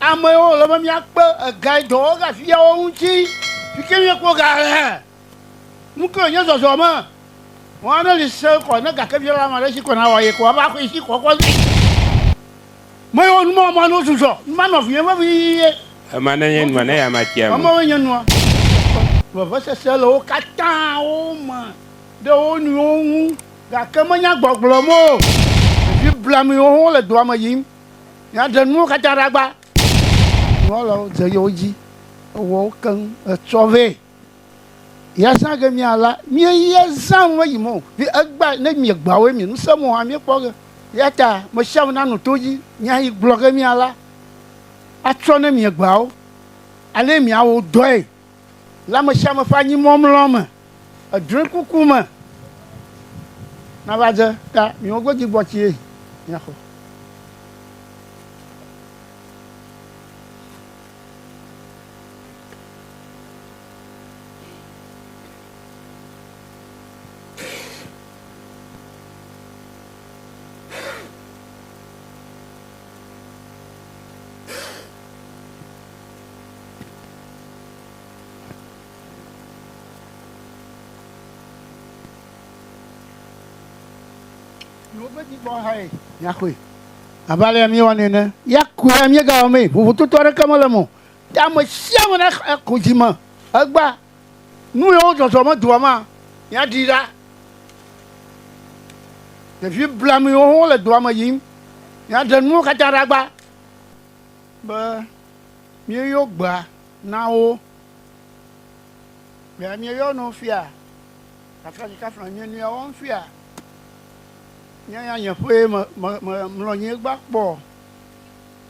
Ame yiwo wòle be míakpe egae dɔ wɔwɔ gaviviawo ŋuti yi ke míekpɔ ga le nu ke wònye zɔzɔ me. Mɔ aɖe li se kɔ ne ga ke via la ame aɖe si ko nawɔ ye ko ava axɔ yi si kɔ kɔ zi. Ame yiwo numɔmɔ no zuzɔ ma nɔvinyɔnu vevie. Ema ne nye nua ne ya ma tsi ame. Emewoe nye nua. Vevesese le wo katã wo me ɖe wo nɔewo ŋu gake menya gbɔgblɔm o. Ɖevi blamuiwo hã wole dua me yim. Míaɖe nuwo katã ɖa gbã. Nunɔlawo dze yewo dzi ewɔ wo keŋ etsɔ vɛ. Yezã ge míala míeye zã ŋue yi mɔ vi egba ne míegba woe mi nusẽ mɔ hã míekpɔ ge. Yata meshiame nanu to dzi nya yi gblɔ ge míala atsɔ ne míegba wo ale míawo dɔe. le amesiame ƒe anyimɔmlɔ me, edrɔekuku me, nava dze ta miwo godzi gbɔ tsie miaxɔ. miaxɔe abe alea míewɔ nɛ ne yɛakɔe míegawɔ mee vovototo aɖeke mele mo te ame sia ame naxɔ dzi me egba nu yewo zɔzɔ medoa ma míaɖi ɖa ɖevi blamiwo hã le doa me yim míaɖe nuwo katã ɖagba Be míeyɔ gbea na wo. Gbea míeyɔ na wo fia. Kafla dzi kafla nye nuya wɔm fia. Nye ya nye ƒee me me me mlɔ anyi egba kpɔ.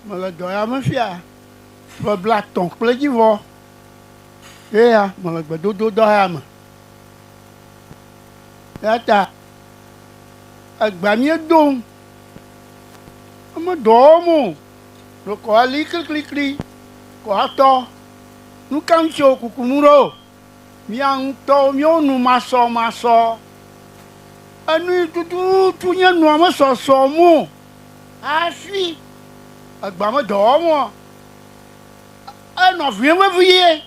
Mele dɔ ya me fia ƒe blatɔ̃ kple edzi vɔ. Ye ya mele gbedododɔ ya me. Eya ta egbea míedo ŋu. Meɖɔ wɔm o. ɖo kɔ ali kliklikli kɔ atɔ. Nukaŋ ci wo kukunu ɖo? Mía ŋutɔwo míwo nu masɔmasɔ. Enu yi tututu nye nua mesɔsɔ mo hafi egba me dɔ wɔm o. Enɔ vwim vevie.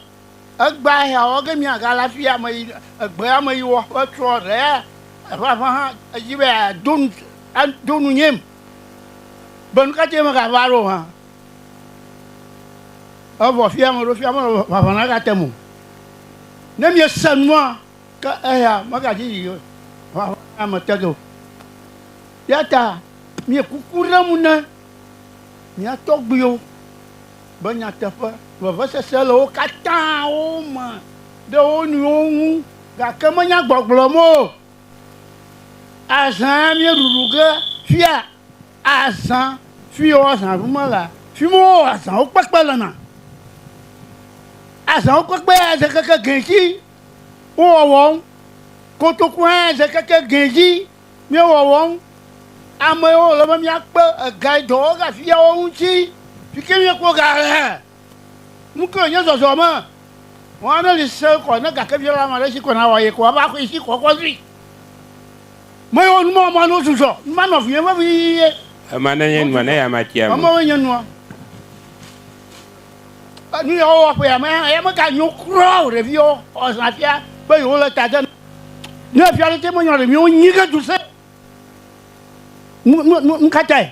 Egbea hea wɔ ge mía gale afi ya me yi egbea me yi wɔ ƒe trɔ ɖe eƒe aƒe hã edzi be ado nu ado nu nyem. be nu ka tae megava ɖo hã. Evɔ fia meɖo fia mele ʋaʋã nagatem o. Ne miese nua, ke eya megadzi yi ʋaʋã la me te ge o. Eya ta mie kuku ɖem ne mia tɔgbuiwo be nyateƒe, vevesese le wo katã wo me ɖe wo nɔewo ŋu gake menya gbɔgblɔm o. Azã míeɖuɖu ge fia azã fi wo azã ɖu mele fi mi wo azãwo kpekpe le na. Azãwo kpekpe ya ze keke gɛ ci wo wɔwɔm. Kotoku hã ya ze keke gɛ ci mi wɔwɔm. Ame yi wo le be mia kpe ega yi dɔ wɔ ga fia wo ŋuti fike mi kpɔ ga le. Nukae nye zɔzɔme? Mɔ aɖe li sẽ kɔ ne gakebiala ma ɖe si ko nawɔ ye ko ava xɔe si kɔ kɔ zui. Mɔ ye wɔ nu ma mɔ ne wosu zɔ. Nu ma nɔ vinye vevi ye. Ema ne nye nua ne ya ma tia me. Ema we nye nua. Nu ya wowɔ ƒe ya me ya me ga nyo kura o ɖevi wo xɔ zã fia be yewo le ta de. Ne fia ɖe te me nyɔ ɖe mi wo nyi ke du se. Nu nu nu katae.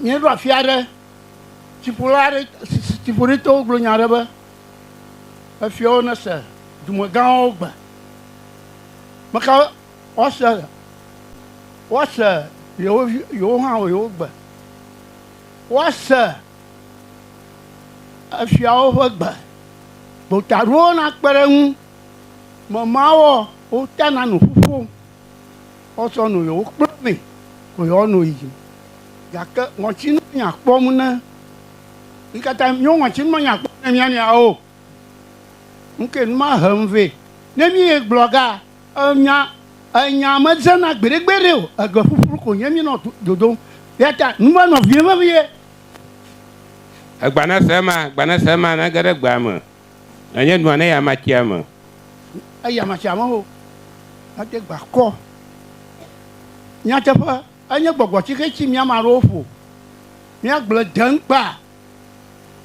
Míeɖo afi aɖe, tsiƒula aɖe, tsiƒuɖitɔwo gblɔ nya aɖe be, efiawo nese dumegãwo gbe. Meka woase, woase yewo, yewo hã yewo gbe. Woase efiawo ƒe gbe. Gota aɖewo nakpe ɖe eŋu. Memawɔ wotana nu ƒuƒom. woatsɔ nu yewo kpla nɛ ko yewoano yi dzi. Gake ŋɔtsinu miakpɔ mu ne mi katã mio ŋɔtsinu menye akpɔ mu ne mia nɔeawo o. Nu kae nu ma he nu vɛ? Ne míegblɔ ga enya enya medzena gbeɖegbeɖe o, ege ƒuƒlu ko nye míenɔ dodom. Eya ta nu ma nɔ vivim vevie. Egbanase ema, gbanase ema nage ɖe gbea me. Nanye nua ne yama tsia me. Ne yama tsia me o, mede gba kɔ. Nyateƒe, enye gbɔgbɔ ci xe ci mía me aɖewo ƒo. Míagblẽ deŋkpa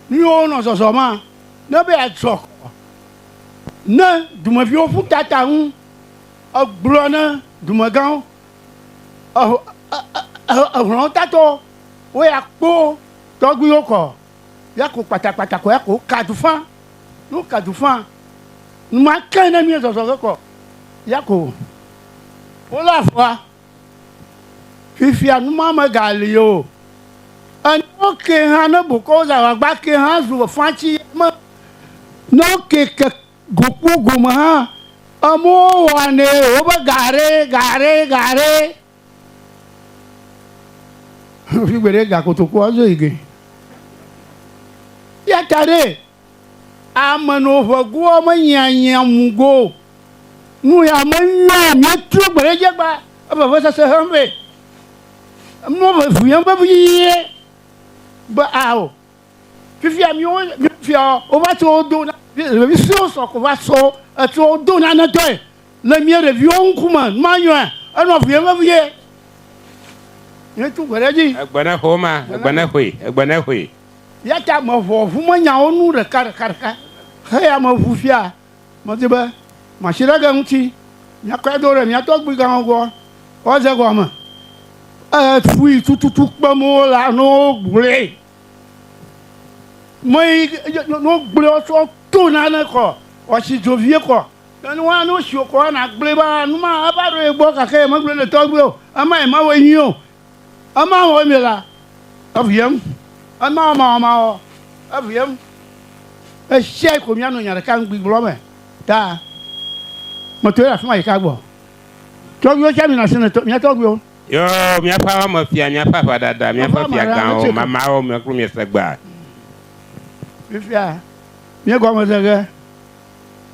míwo nɔ zɔzɔ ma ne be yeadzɔ kɔ ne dumeviwo ƒu ta ta ŋu. Egblɔ ne dumegãwo, ehlɔ̃ tatɔ wo ya kpo tɔgbuiwo kɔ. Ya ko kpatakpata ko ya ko ka du fã. Ne woka du fã, nu ma ke ne nue zɔzɔ ge kɔ ya ko wole afɔa. Fifia nu ma megali o. Enuwo ke hã ne bokɔ wo zã agba ke hã zu fã tsi ya me. Ne woke ke go kpɔ gome hã, amewo wɔnɛ wobe ga ɖe ga ɖe ga ɖe Fi gbeɖe gakotokoa dzo yi ge. Ya ta ɖe ame no ƒe goa me nyia nyia mu go. Nu ya me nyɔ mia tso gbeɖe dze gba ebe ve sese hem be. Mɔ ve via be vii be ao. Fifia miwo fia wova tso do ɖevi suewo sɔ ko va so etso do nane tɔe le mia ɖeviwo ŋkume manyɔe enɔ vie vevie. Yetu gbe ɖe dzi. Egbe ne xo ma, egbe ne xoe, egbe ne xoe. Ya ta mevɔ ŋu menyawo nu ɖeka ɖeka ɖeka heya me ŋu fia medi be masi ɖe ge ŋuti miakɔe do ɖe mia tɔgbuigãwo gbɔ woaze gɔme. Efui tututu kpem wole alo wogblɔe. mɔ yi no gblé ɔtɔ tó nane kɔ ɔtsi dzo vie kɔ nanu wa no si okɔ ana gblé ba numa aba ɖo ye gbɔ kake ye megblé le tɔgbe o ama ye ma wɔ nyuie o ama wɔ mi la eviem ama wɔ ma wɔ ma wɔ eviem esia yi ko mia no nya ɖeka ŋgbi gblɔ me ta mɔtɔ ye afima yi ka gbɔ tɔgbe tsa mi na se ne mia tɔgbe Yɔ miaƒe aʋa me fia, miaƒe aʋaɖaɖa, miaƒe fiagãwo, mamaawo mia kplu miese gbea. Fifia, míegɔme se ge.